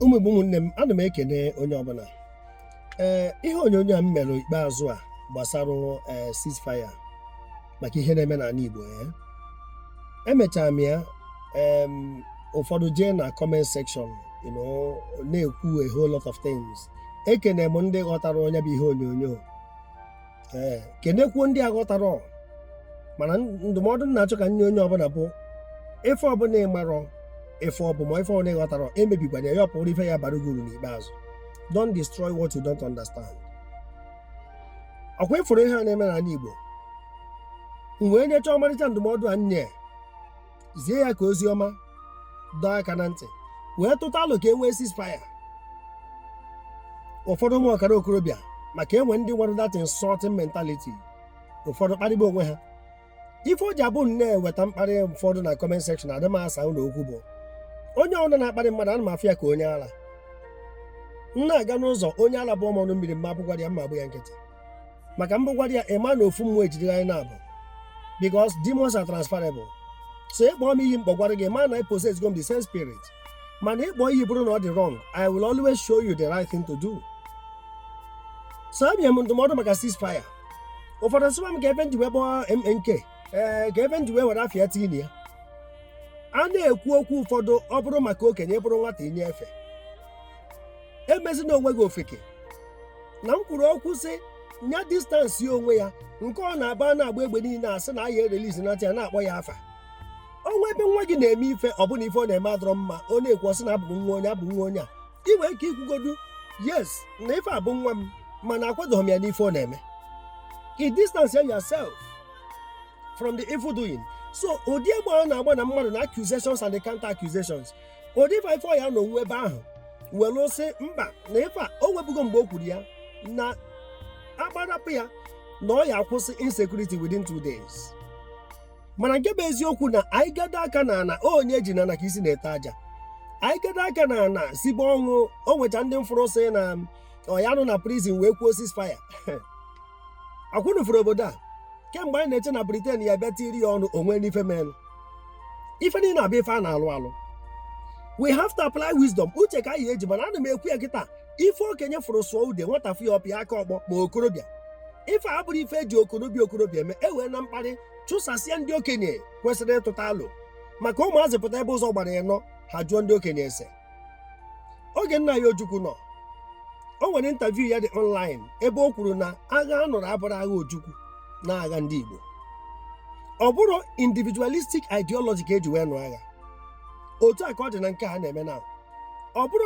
ụmụ igbo ụmụnne m ana m ekene onye ọbụla ee eh, ihe onyonyo a m mere ikpeazụ a gbasara eh, ceasefire maka ihe na-eme n'ala igbo ya eh. emechara m ya ụfọdụ jee na comment section na-ekwu a whole lot of things ekene m ndị ghọtara onye bụ ihe onyonyo ee kenekwuo ndị aghọtarọ. mana ndụmọdụ m na-achọ ka m nye onye ọbụla bụ ife ọbụla ị marọ ife ọ bụ ma ife ọbụla ị ghọtarọ emebikwana ya ya bụrụ ife ya-abara gị uru n'ikpeazụ don't destroy what you don't understand ọkwa ị fụrụ ihe a na-eme n'ala Igbo m wee nyechaa ọmarịcha ndụmọdụ a nye zie ya ka ozi ọma dọọ aka na ntị wee tụta alo ka e nwee ceasefire ụfọdụ ụmụ ọkara okorobịa maka e nwe ndị nwere that insulting mentality ụfọdụ kparịba onwe ha ife o ji abụ m nweta mkparị ụfọdụ na comment section adị m asa unu okwu bụ onye ọbụla na-akparị mmadụ ana m afụ ya ka onye ala m na-aga n'ụzọ onye ala bụọ m ọnụ mmiri m ma abụgwara ya mma agba ya nkịtị maka m bụgwara ya ị ma na ofu mmụọ ejidere anyị naabọ because demons are transferable so ị kpọọ m iyi m kpọgwara gị ị ma na ị possessgo m the same spirit mana ịkpọ iyi bụrụ na ọ dị wrong I will always show you the right thing to do so abịa m ndụmọdụ maka ceasefire ụfọdụ sịwa m kee ife m ji wee kpọọ MNK ee kee ife m ji wee were afa ya tinye ya a na-ekwu okwu ụfọdụ ọ bụrụ maka okenye ị bụrụ nwata i nye efe emezina onwe gị ofeke na m kwuru okwu sị nya distance onwe ya nke ọ na-abụ a na-agba egbe niile a sị na a ya erelease na ya na-akpọ ya afa o nwe ebe nwa gị na-eme ife ọ bụla ife ọ na-eme adịrọ mma a na-ekwu a sị na ọ bụ nwa onye ọ bụ nwa onye a ị nwere ike ikwugodu yes na ife a bụ nwa m mana akwadoghị m ya n'ife ọ na-eme ị distance yourself from the evil doing so ụdị egbe a na-agba na mmadụ na accusations and the counter accusations ụdị ife a ife ọ ya-anọ onwe ebe ahụ were sị mba na ife a o nwebugo mgbe o kwuru ya na a gbarapụ ya na ọ ya akwụsị insecurity within two days mana nke bụ eziokwu na anyị gado aka na ana onye e ji na ana ka isi na-ete aja anyị gado aka na ana sibe ọnwụ o nwecha ndị m fụrụ sị na ọ ya-anọ na prison wee kwuo ceasefire akwụnụ furu obodo a kemgbe anyị na-eche na Britain ya bịa tiri ya ọnụ o nwee n'ife menụ ife niile abụrọ ife a na-alụ alụ we have to apply wisdom uche ka a ya-eji mana ana m ekwu ya kịta ife okenye fụrụ sụọ ude nwata fụ ya ọ pịa aka ọkpọ ma okorobịa ife a abụrọ ife e ji okorobịa okorobịa eme ewena mkparị chụsasịa ndị okenye kwesịrị ịtụta alo maka ụmụazị pụta ebe ụzọ gbara ịnọ ha jụọ ndị okenye ese oge nna anyị ojukwu nọ o nwere interview ya dị online ebe o kwuru na agha a nụrụ abụrọ agha ojukwu na agha ndị igbo ọ bụrọ individualistic ideology ka e ji wee nụ agha otu a ka ọ dị na nke a na-eme na ọ bụrụ